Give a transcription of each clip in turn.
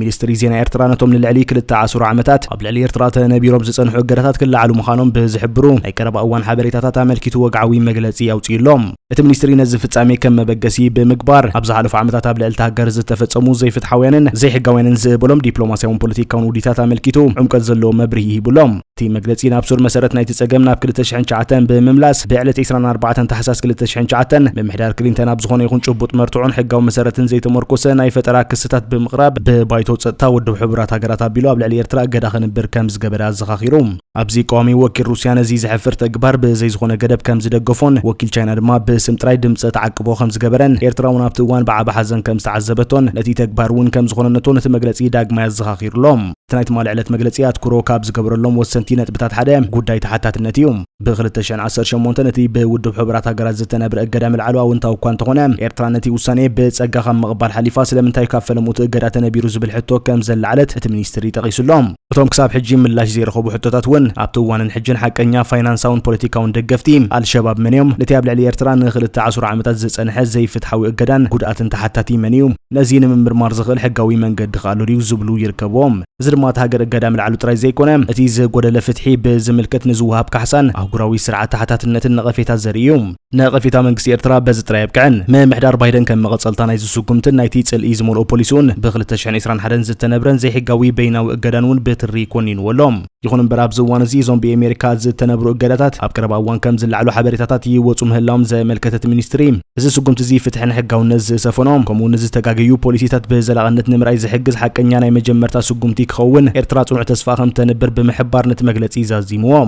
ሚኒስትሪ ዜና ኤርትራ ነቶም ንልዕሊ ክልተ ዓሱር ዓመታት ኣብ ልዕሊ ኤርትራ ተነቢሮም ዝጸንሑ እገዳታት ክለዓሉ ምዃኖም ብዝሕብሩ ናይ ቀረባ እዋን ሓበሬታታት ኣመልኪቱ ወግዓዊ መግለጺ ኣውጺኡ ኣሎ። እቲ ሚኒስትሪ ነዚ ፍጻሜ ከም መበገሲ ብምግባር ኣብ ዝሓለፉ ዓመታት ኣብ ልዕልታ ሃገር ዝተፈጸሙ ዘይፍትሓውያንን ዘይሕጋውያንን ዝበሎም ዲፕሎማስያውን ፖለቲካውን ውዲታት ኣመልኪቱ ዕምቆት ዘለዎ መብርሂ ሂቡ ኣሎ። እቲ መግለጺ ናብ ሱር መሰረት ናይቲ ጸገም ናብ 2009 ብምምላስ ብዕለት 24 ታሕሳስ 2009 ምምሕዳር ክሊንተን ኣብ ዝኾነ ይኹን ጭቡጥ መርትዖን ሕጋዊ መሰረትን ዘይተመርኮሰ ናይ ፈጠራ ክስታት ብምቕራብ ብባይቶ ጸጥታ ውድብ ሕቡራት ሃገራት ኣቢሉ ኣብ ልዕሊ ኤርትራ እገዳ ክንብር ከም ዝገበረ ኣዘኻኺሩ። ኣብዚ ቀዋሚ ወኪል ሩስያ ነዚ ዘሕፍር ተግባር ብዘይ ዝኾነ ገደብ ከም ዝደገፎን ወኪል ቻይና ድማ ብስም ጥራይ ድምጸ ተዓቅቦ ከም ዝገበረን ኤርትራ እውን ኣብቲ እዋን ብዓቢ ሓዘን ከም ዝተዓዘበቶን ነቲ ተግባር እውን ከም ዝኾነነቶን እቲ መግለጺ ዳግማይ ኣዘኻኺሩሎም። እቲ ናይ ትማሊ ዕለት መግለጺ ኣትኩሮ ካብ ዝገበረሎም ወሰንቲ ነጥብታት ሓደ ጉዳይ ተሓታትነት እዩ። ብ ክልተ ሽሕን ዓሰርተ ሸሞንተን እቲ ብውድብ ሕቡራት ሃገራት ዝተነብረ እገዳ ምልዓሉ ኣወንታዊ እኳ እንተኾነ፣ ኤርትራ ነቲ ውሳኔ ብጸጋ ካብ ምቕባል ሓሊፋ ስለምንታይ ካብ ፈለምኡ እቲ እገዳ ተነቢሩ ዝብል ሕቶ ከም ዘለዓለት እቲ ሚኒስትሪ ጠቒሱ ኣሎ። እቶም ክሳብ ሕጂ ምላሽ ዘይረኸቡ ሕቶታት እውን ኣብቲ እዋንን ሕጅን ሓቀኛ ፋይናንሳውን ፖለቲካውን ደገፍቲ ኣልሸባብ መን እዮም? ነቲ ኣብ ልዕሊ ኤርትራ ንክልተ ዓሱር ዓመታት ዝጸንሐ ዘይፍትሓዊ እገዳን ጉድኣትን ተሓታቲ መን እዩ? ነዚ ንምምርማር ዝኽእል ሕጋዊ መንገዲ ከ ኣሎ ድዩ ዝብሉ ይርከብዎም። እዚ ድማ እታ ሃገር እገዳ ምልዓሉ ጥራይ ዘይኮነ፣ እቲ ዝጎደለ ፍትሒ ብዝምልከት ንዝወሃብ ካሕሳን ኣህጉራዊ ስርዓት ተሓታትነትን ነቐፌታ ዘርኢ እዩ። ነቐፌታ መንግስቲ ኤርትራ በዚ ጥራይ ኣየብቅዕን። ምምሕዳር ባይደን ከም መቐጸልታ ናይዚ ስጉምትን ናይቲ ጽልኢ ዝመልኦ ፖሊስኡን፣ ብ ክልተ ሽሕን ዕስራን ሓደን ዝተነብረን ዘይሕጋዊ በይናዊ እገዳን እውን ብትሪ ኮኒንዎ ኣሎ። ይኹን እምበር ኣብዚ እዋን እዚ እዞም ብኤሜሪካ ዝተነብሩ እገዳታት ኣብ ቀረባ እዋን ከም ዝለዓሉ ሓበሬታታት ይወፁ ምህላዎም ዘመልከተት ሚኒስትሪ እዚ ስጉምቲ እዚ ፍትሕን ሕጋውነት ዝሰፈኖ ከምኡ እውን ዝተጋገዩ ፖሊሲታት ብዘላቕነት ንምርኣይ ዝሕግዝ ሓቀኛ ናይ መጀመርታ ስጉምቲ ክኸውን ኤርትራ ጽኑዕ ተስፋ ከም ተንብር ብምሕባር ነቲ መግለጺ ዛዚምዎ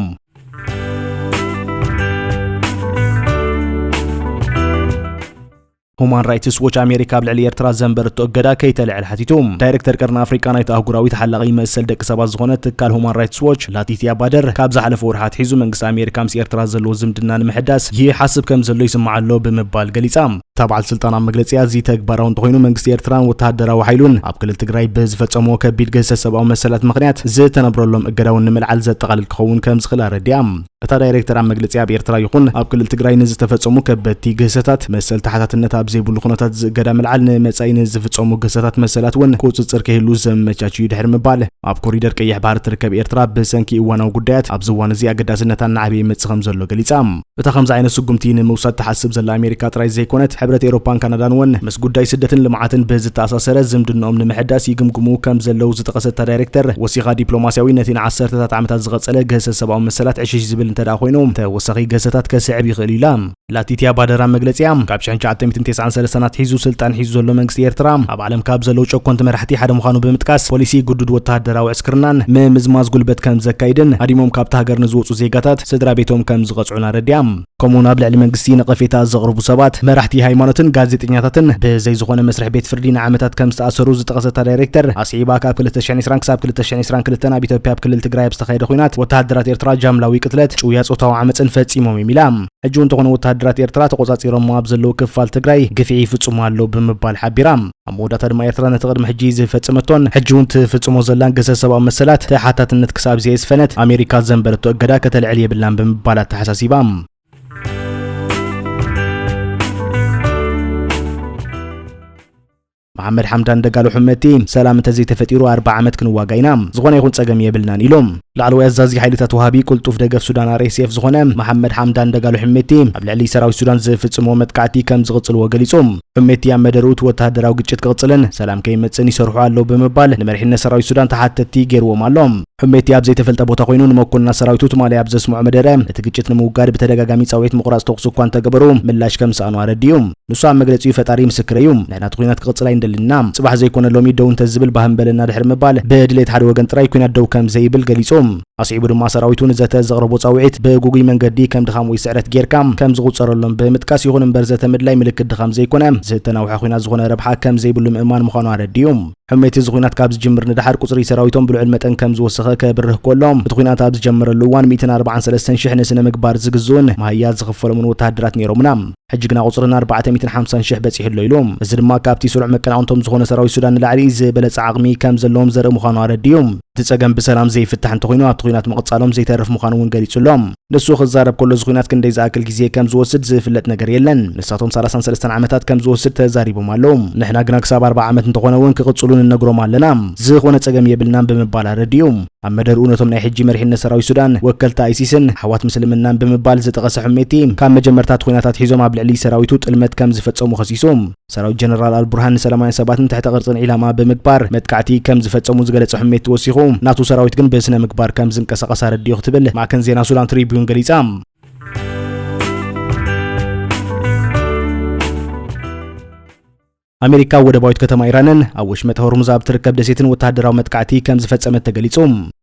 ሁማን ራይትስ ዎች ኣሜሪካ ኣብ ልዕሊ ኤርትራ ዘንበረቶ እገዳ ከይተልዕል ሓቲቱ። ዳይረክተር ቀርኒ ኣፍሪቃ ናይቲ ኣህጉራዊ ተሓላቒ መሰል ደቂ ሰባት ዝኾነ ትካል ሁማን ራይትስ ዎች ላቲትያ ባደር ካብ ዝሓለፈ ወርሒ ኣትሒዙ መንግስቲ ኣሜሪካ ምስ ኤርትራ ዘለዎ ዝምድና ንምሕዳስ ይሓስብ ከም ዘሎ ይስማዕ ኣሎ ብምባል ገሊጻ። እታ በዓል ስልጣን ኣብ መግለጺኣ እዚ ተግባራዊ እንተኾይኑ መንግስቲ ኤርትራን ወተሃደራዊ ሓይሉን ኣብ ክልል ትግራይ ብዝፈጸሞ ከቢድ ግህሰት ሰብኣዊ መሰላት ምኽንያት ዝተነብረሎም እገዳውን ንምልዓል ዘጠቓልል ክኸውን ከም ዝኽእል ኣረዲኣ። እታ ዳይሬክተር ኣብ መግለጺኣ ኣብ ኤርትራ ይኹን ኣብ ክልል ትግራይ ንዝተፈጸሙ ከበድቲ ግህሰታት መሰል ተሓታትነት ኣብ ዘይብሉ ኩነታት ዝእገዳ ምልዓል ንመጻኢ ንዝፍጸሙ ግህሰታት መሰላት እውን ቁጽጽር ከይህሉ ዘመቻች እዩ ድሕሪ ምባል ኣብ ኮሪደር ቀይሕ ባሕሪ ትርከብ ኤርትራ ብሰንኪ እዋናዊ ጉዳያት ኣብዚ እዋን እዚ ኣገዳስነታ እናዓበየ ይመጽእ ከም ዘሎ ገሊጻ። እታ ከምዚ ዓይነት ስጉምቲ ንምውሳድ ትሓስብ ዘላ ኣሜሪካ ጥራይ ዘይኮነት ሕብረት ኤሮፓን ካናዳን እውን ምስ ጉዳይ ስደትን ልምዓትን ብዝተኣሳሰረ ዝምድንኦም ንምሕዳስ ይግምግሙ ከምዘለዉ ዝጠቐሰት እታ ዳይሬክተር፣ ወሲኻ ዲፕሎማሲያዊ ነቲ ንዓሰርተታት ዓመታት ዝቐጸለ ግህሰት ሰብኣዊ መሰላት ዕሽሽ ዝብል እንተድኣ ኮይኑ፣ ተወሳኺ ግህሰታት ከስዕብ ይኽእል'ዩ ኢላ። ላቲትያ ባደራ መግለጺኣ፣ ካብ ሽሕን ትሽዓተ ሚእትን ቴስዓን ሰለስተን ኣትሒዙ ስልጣን ሒዙ ዘሎ መንግስቲ ኤርትራ፣ ኣብ ዓለም ካብ ዘለዉ ጨኮንቲ መራሕቲ ሓደ ምዃኑ ብምጥቃስ፣ ፖሊሲ ግዱድ ወተሃደራዊ ዕስክርናን ምምዝማዝ ጉልበት ከምዘካይድን ሃዲሞም ካብታ ሃገር ንዝወጹ ዜጋታት ስድራቤቶም ከምዝቐጽዑን ኣረዲኣ። ከምኡውን ኣብ ልዕሊ መንግስቲ ነቐፌታ ዘቕርቡ ሰባት፣ መራሕቲ ሃይማኖትን ጋዜጠኛታትን ብዘይ ዝኾነ መስርሕ ቤት ፍርዲ ንዓመታት ከም ዝተኣሰሩ ዝጠቐሰት እታ ዳይሬክተር፣ ኣስዒባ ካብ ክልተ ሽሕን ዕስራን ክሳብ ክልተ ሽሕን ዕስራን ክልተን ኣብ ኢትዮጵያ ኣብ ክልል ትግራይ ኣብ ዝተኻየደ ኲናት ወተሃደራት ኤርትራ ጃምላዊ ቅትለት፣ ጭውያ ጾታዊ ዓመጽን ፈጺሞም እዮም ኢላ። ሕጂ'ውን እንተኾነ ወተሃደራት ኤርትራ ተቖጻጺሮሞ ኣብ ዘለዉ ክፋል ትግራይ ግፍዒ ይፍጽሙ ኣለዉ ብምባል ሓቢራ። ኣብ መወዳእታ ድማ ኤርትራ ነቲ ቅድሚ ሕጂ ዝፈጸመቶን ሕጂ እውን ትፍጽሞ ዘላን ግህሰት ሰብኣዊ መሰላት ተሓታትነት ክሳብ ዘየስፈነት ኣሜሪካ ዘንበረቶ እገዳ ከተልዕል የብላን ብምባል ኣተሓሳሲባ። መሓመድ ሓምዳን ደጋሎ ሕመቲ ሰላም እንተዘይተፈጢሩ ኣርባዓ ዓመት ክንዋጋ ኢና ዝኾነ ይኹን ጸገም የብልናን ኢሎም። ላዕለዋይ ኣዛዚ ሓይልታት ወሃቢ ቅልጡፍ ደገፍ ሱዳን RSF ዝኾነ መሓመድ ሓምዳን ደጋሎ ሕሜቲ ኣብ ልዕሊ ሰራዊት ሱዳን ዝፍጽምዎ መጥቃዕቲ ከም ዝቕጽልዎ ገሊጹ። ሕሜቲ ኣብ መደርኡ እቲ ወተሃደራዊ ግጭት ክቕጽልን ሰላም ከይመጽእን ይሰርሑ ኣለዉ ብምባል ንመሪሕነት ሰራዊት ሱዳን ተሓተትቲ ገይርዎም ኣሎ። ሕሜቲ ኣብ ዘይተፈልጠ ቦታ ኮይኑ ንመኮንናት ሰራዊቱ ትማሊ ኣብ ዘስምዖ መደረ እቲ ግጭት ንምውጋድ ብተደጋጋሚ ጻውዒት ምቑራጽ ተኹሲ እኳ እንተገበሩ ምላሽ ከም ዝሰኣኑ ኣረዲኡ። ንሱ ኣብ መግለጺኡ ፈጣሪ ምስክረይ እዩ፣ ናይ ናቱ ኲናት ክቕጽል ኣይንደልን ኢና፣ ጽባሕ ዘይኮነ ሎሚ ደው እንተዝብል ባህም በለና ድሕሪ ምባል፣ ብድሌት ሓደ ወገን ጥራይ ኲናት ደው ከም ዘይብል ገሊጹ። ኣስዒቡ ድማ ሰራዊቱ ንዘተ ዘቕረቦ ጻውዒት ብግጉይ መንገዲ ከም ድኻም ወይ ስዕረት ጌርካ ከም ዝቑጸረሎም ብምጥቃስ፣ ይኹን እምበር ዘተ ምድላይ ምልክት ድኻም ዘይኮነ፣ ዝተናውሐ ኲናት ዝኾነ ረብሓ ከም ዘይብሉ ምእማን ምዃኑ ኣረዲኡ። ሕሜቲ እዚ ኲናት ካብ ዝጅምር ንደሓር ቁጽሪ ሰራዊቶም ብልዑል መጠን ከም ዝወሰኸ ከብርህ ኮሎ፣ እቲ ኲናት ኣብ ዝጀመረሉ እዋን ሚእትን ኣርብዓን ሰለስተን ሽሕ ንስነ ምግባር ዝግዝኡን መሃያ ዝኽፈሎምን ወተሃደራት ነይሮሙና። ሕጂ ግና ቁጽሪ ን ኣርባዕተ ሚእትን ሓምሳን ሽሕ በጺሑ ኣሎ ኢሉ። እዚ ድማ ካብቲ ስሩዕ መቀናቕንቶም ዝኾነ ሰራዊት ሱዳን ንላዕሊ ዝበለጸ ዓቕሚ ከም ዘለዎም ዘርኢ ምዃኑ ኣረዲኡ። እቲ ጸገም ብሰላም ዘይፍታሕ እንተኾይኑ ኣብቲ ኹናት ምቕጻሎም ዘይተርፍ ምዃኑ እውን ገሊጹ ኣሎ። ንሱ ክዛረብ ከሎ እዚ ኹናት ክንደይ ዝኣክል ግዜ ከም ዝወስድ ዝፍለጥ ነገር የለን። ንሳቶም ሰላሳን ሰለስተን ዓመታት ከም ዝወስድ ተዛሪቦም ኣለዉ። ንሕና ግና ክሳብ ኣርብዓ ዓመት እንተኾነ እውን ክቕጽሉ ንነግሮም ኣለና። ዝኾነ ጸገም የብልናን ብምባል ኣረዲኡ። ኣብ መደርኡ ነቶም ናይ ሕጂ መሪሕነት ሰራዊት ሱዳን ወከልቲ ኣይሲስን ኣሕዋት ምስልምናን ብምባል ዝጠቐሰ ሕሜቲ ካብ መጀመርታ እቲ ኹናት ኣትሒዞም ኣብ ልዕሊ ሰራዊቱ ጥልመት ከም ዝፈጸሙ ከሲሱ። ሰራዊት ጀነራል ኣልቡርሃን ንሰላማውያን ሰባትን ትሕተ ቅርጽን ዒላማ ብምግባር መጥቃዕቲ ከም ዝፈጸሙ ዝገለጸ ሕሜቲ ወሲኹ ናቱ ሰራዊት ግን ብስነ ምግባር ከም ዝንቀሳቐስ ኣረዲኡ ክትብል ማዕከን ዜና ሱዳን ትሪቢዩን ገሊጻ። ኣሜሪካ ኣብ ወደባዊት ከተማ ኢራንን ኣብ ወሽመጥ ሆርሙዝ ኣብ እትርከብ ደሴትን ወተሃደራዊ መጥቃዕቲ ከም ዝፈጸመት ተገሊጹ።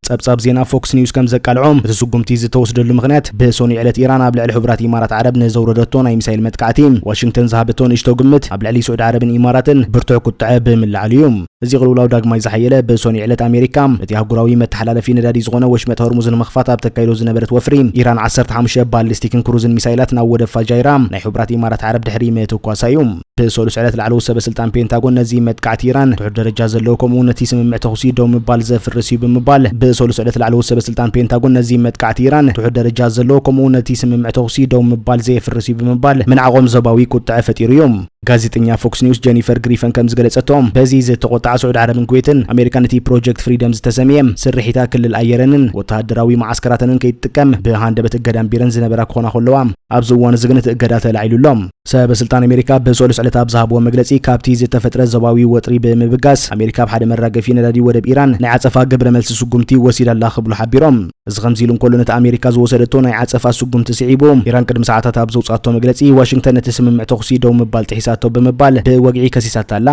ጸብጻብ ዜና ፎክስ ኒውስ ከም ዘቃልዖ፣ እቲ ስጉምቲ ዝተወስደሉ ምኽንያት ብሰኑይ ዕለት ኢራን ኣብ ልዕሊ ሕቡራት ኢማራት ዓረብ ንዘውረደቶ ናይ ሚሳይል መጥቃዕቲ ዋሽንግተን ዝሃበቶ ንእሽቶ ግምት ኣብ ልዕሊ ስዑዲ ዓረብን ኢማራትን ብርቱዕ ቁጥዐ ብምልዓሉ እዩ። እዚ ቅልውላው ዳግማይ ዝሓየለ ብሰኑይ ዕለት ኣሜሪካ እቲ ኣህጉራዊ መተሓላለፊ ነዳዲ ዝኾነ ወሽመጥ ሆርሙዝ ንምኽፋት ኣብ ተካይዶ ዝነበረት ወፍሪ ኢራን ዓሰርተ ሓሙሽተ ባሊስቲክን ክሩዝን ሚሳይላት ናብ ወደብ ፋጃይራ ናይ ሕቡራት ኢማራት ዓረብ ድሕሪ ምትኳሳ እዩ። ብሰሉስ ዕለት ላዕለዎት ሰበስልጣን ፔንታጎን ነዚ መጥቃዕቲ ኢራን ትሑት ደረጃ ዘለዎ ከምኡ'ውን እቲ ስምምዕ ተኹሲ ደው ምባል ዘፍርስ እዩ ብምባል ብሰሉስ ዕለት ላዕለዎት ሰበስልጣን ፔንታጎን ነዚ መጥቃዕቲ ኢራን ትሑት ደረጃ ዘለዎ ከምኡ'ውን እቲ ስምምዕ ተኹሲ ደው ምባል ዘየፍርስ እዩ ብምባል ምንዓቖም ዞባዊ ቁጥዐ ፈጢሩ እዩ። ጋዜጠኛ ፎክስ ኒውስ ጀኒፈር ግሪፈን ከም ዝገለጸቶ በዚ ዝተቖጥዓ ስዑድ ዓረብን ኩዌትን ኣሜሪካ ነቲ ፕሮጀክት ፍሪደም ዝተሰምየ ስርሒታ ክልል ኣየረንን ወተሃደራዊ መዓስከራተንን ከይትጥቀም ብሃንደበት እገዳ ኣንቢረን ዝነበራ ክኾና ከለዋ ኣብዚ እዋን እዚ ግን እቲ እገዳ ተላዒሉ ኣሎ። ሰበ ስልጣን ኣሜሪካ ብሰሉስ ዕለት ኣብ ዝሃብዎ መግለጺ ካብቲ ዝተፈጥረ ዞባዊ ወጥሪ ብምብጋስ ኣሜሪካ ኣብ ሓደ መራገፊ ነዳዲ ወደብ ኢራን ናይ ዓጸፋ ግብረ መልሲ ስጉምቲ ወሲዳ ኣላ ክብሉ ሓቢሮም። እዚ ከምዚ ኢሉ እንከሎ ነቲ ኣሜሪካ ዝወሰደቶ ናይ ዓጸፋ ስጉምቲ ስዒቡ ኢራን ቅድሚ ሰዓታት ኣብ ዘውጽኣቶ መግለጺ ዋሽንግተን ነቲ ስምምዕ ተኹሲ ደው ምባል ጥሒሳቶ ብምባል ብወግዒ ከሲሳታ ኣላ።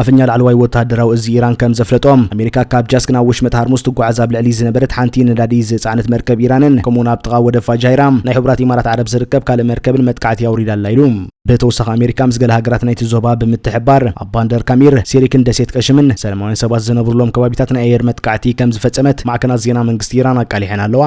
ኣፈኛ ላዕለዋይ ወተሃደራዊ እዚ ኢራን ከም ዘፍለጦ፣ ኣሜሪካ ካብ ጃስክ ናብ ወሽመጥ ሃርሙዝ ትጓዓዝ ኣብ ልዕሊ ዝነበረት ሓንቲ ነዳዲ ዝጸዓነት መርከብ ኢራንን ከምኡ'ውን ኣብ ጥቓ ወደብ ፋጃይራ ናይ ሕቡራት ኢማራት ዓረብ ዝርከብ ካልእ መርከብን መጥቃዕቲ ኣውሪዳ ኣላ ኢሉ። ብተወሳኺ ኣሜሪካ ምስ ገለ ሃገራት ናይቲ ዞባ ብምትሕብባር ኣብ ባንደር ካሚር፣ ሲሪክን ደሴት ቀሽምን ሰለማውያን ሰባት ዝነብሩሎም ከባቢታት ናይ ኣየር መጥቃዕቲ ከም ዝፈጸመት ማዕከናት ዜና መንግስቲ ኢራን ኣቃሊሐን ኣለዋ።